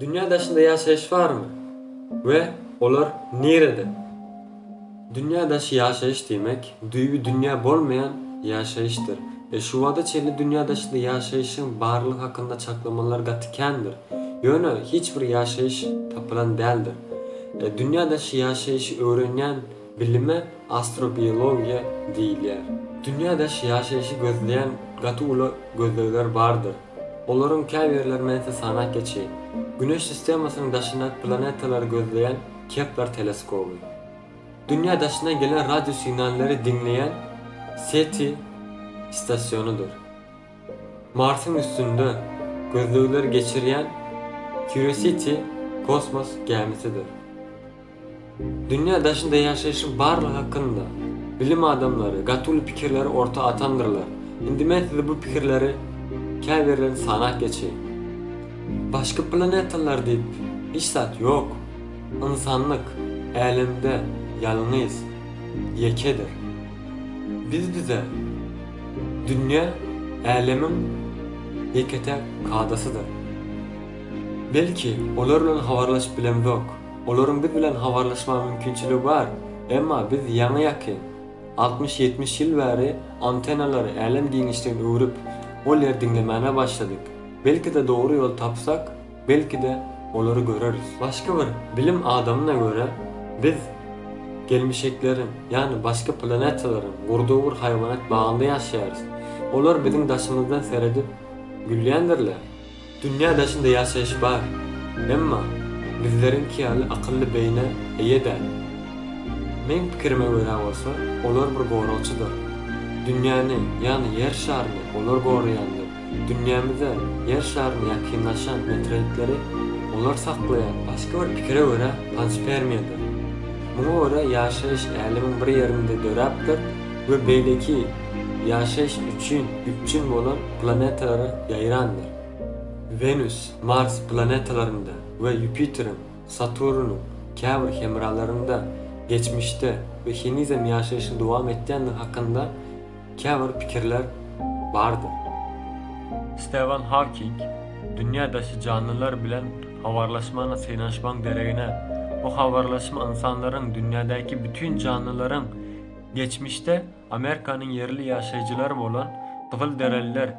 Dünýä daşynda ýaşaýyş barmy we olar nirede? Dünýä daşy ýaşaýyş diýmek, düýbi dünýä bolmaýan ýaşaýyşdyr. E şu wagta çenli dünýä daşynda ýaşaýyşyň barlygy hakynda çaklamalar gaty kändir. Ýöne hiç bir ýaşaýyş tapylan däldir. E dünýä daşy ýaşaýyşy öwrenýän Bilime astrobiologiýa diýilýär. Dünýä daş ýaşaýşy gözleýän gaty uly gözlegler bardyr. Olaryň käbirlerini men size sanap geçeýin. Güneş sistemasynyň daşyndaky planetalary gözleýän Kepler teleskoby. Dünýä daşyndan gelen radio signallary diňleýän SETI stasionydyr. Marsyň üstünde gözlegleri geçirýän Curiosity kosmos gämisidir. Dünýä daşynda ýaşaýşyň barlygy hakynda bilim adamlary gatuly pikirleri orta atandyrlar. Indi men size bu pikirleri käbirlerini sanap geçeýin. Başga planetalar diýip hiç zat ýok. Ynsanlyk Älemde ýalňyz, ýekedir. Biz bize Dünýä Älemiň ýeke-täk kadasydyr. Belki olar bilen habarlaşyp bilemzok. Olaryň biz bilen habarlaşma mümkinçiligi bar, emma biz ýaňy-ýaky, altmyş-ýetmiş ýyl bäri antennalary älem giňişligine öwrüp, ol ýer diňlemäne başladyk. Belki-de dogry ýol tapsak, belki-de olary göreris. Başga bir bilim adamyna görä, biz gelmişekleriň, ýagny başga planetalaryň gurdugy bir haýwanat bagynda ýaşaýarys. Olar biziň daşymyzdan seredip gülýändirler. Dünýä daşynda ýaşaýyş bar, emma bizleriňki ýaly akylly beýnä eýe däl. Meň pikirime görä bolsa, olar bir goragçydyr. Dünýäni, ýagny Ýer şaryny olar goraýandyr, dünýämize, Ýer şaryna ýakynlaşan meteoritleri olar saklaýar. Başga bir pikire görä, panspermiýadyr. Muňa görä ýaşaýyş Älemiň bir ýerinde döräpdir we beýleki ýaşaýyş üçin üpjün bolan planetalara ýaýrandyr. Wenus, Mars planetalarynda we Ýupiteriň, Saturnyň käbir hemralarynda geçmişde we henizem ýaşaýşyny dowam etýändigi hakynda käbir pikirler bardyr. Stewan Hawking, Dünýä daşy janlylar bilen habarlaşmana synanyşmagyň deregine, bu habarlaşma ynsanlaryň dünýädäki bütin janlylaryň geçmişde, Amerikanyň ýerli ýaşaýjylary bolan gyzylderililer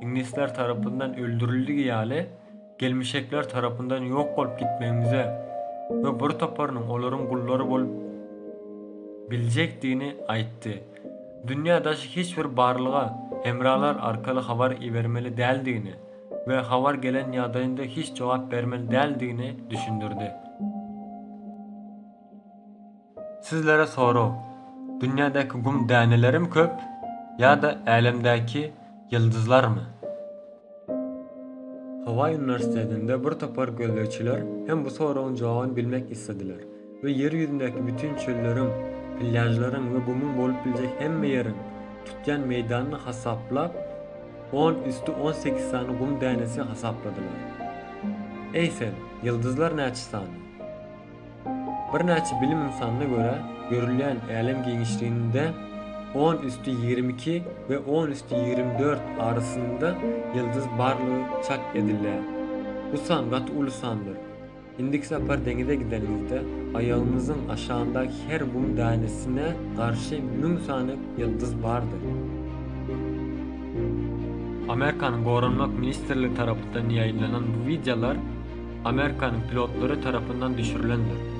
iňlisler tarapyndan öldürildigi ýaly, gelmişekler tarapyndan ýok bolup gitmegimize we bir toparynyň olaryň gullary bolup biljekdigini aýtdy. Dünýä daşy hiç bir barlyga hemralar arkaly habar ibermeli däldigini we habar gelen ýagdaýynda hiç jogap bermeli däldigini düşündirdi. Sizlere sorag, Dünýädäki gum dänelerimi köp ýa-da älemdäki ýyldyzlarmy? Hawaý uniwersitetinde bir topar gözlegçiler hem bu soragyň jogabyny bilmek islediler we Ýer ýüzündäki bütin çölleriň, plýažlaryň we gumuň bolup biljek hemme ýeriň tutýan meýdanyny hasaplap, on üsti on sekiz sany gum dänesi hasapladylar. Eý sen, ýyldyzlar näçe sany? Birnäçe bilim ynsanyna görä, görülýän älem giňişliginde on üsti ýigrimi iki we on üsti ýigrimi dört arasynda ýyldyz barlygy çak edilýär. Bu san gaty uly sandyr. Indiki sapar deňize gidenimizde, aýagymyzyň aşagyndaky her gum dänesine garşy müň sany ýyldyz bardy. Amerikanyň Goranmak ministrligi tarapdan ýaýylanan bu wideolar, Amerikanyň pilotlary tarapyndan düşürilendir.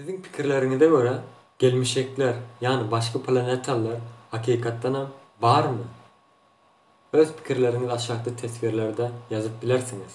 Siziň pikirleriňize görä, gelmişekler, ýagny başga planetalylar hakykatdanam barmy? Öz pikirleriňizi aşakda teswirlerde ýazyp bilersiňiz.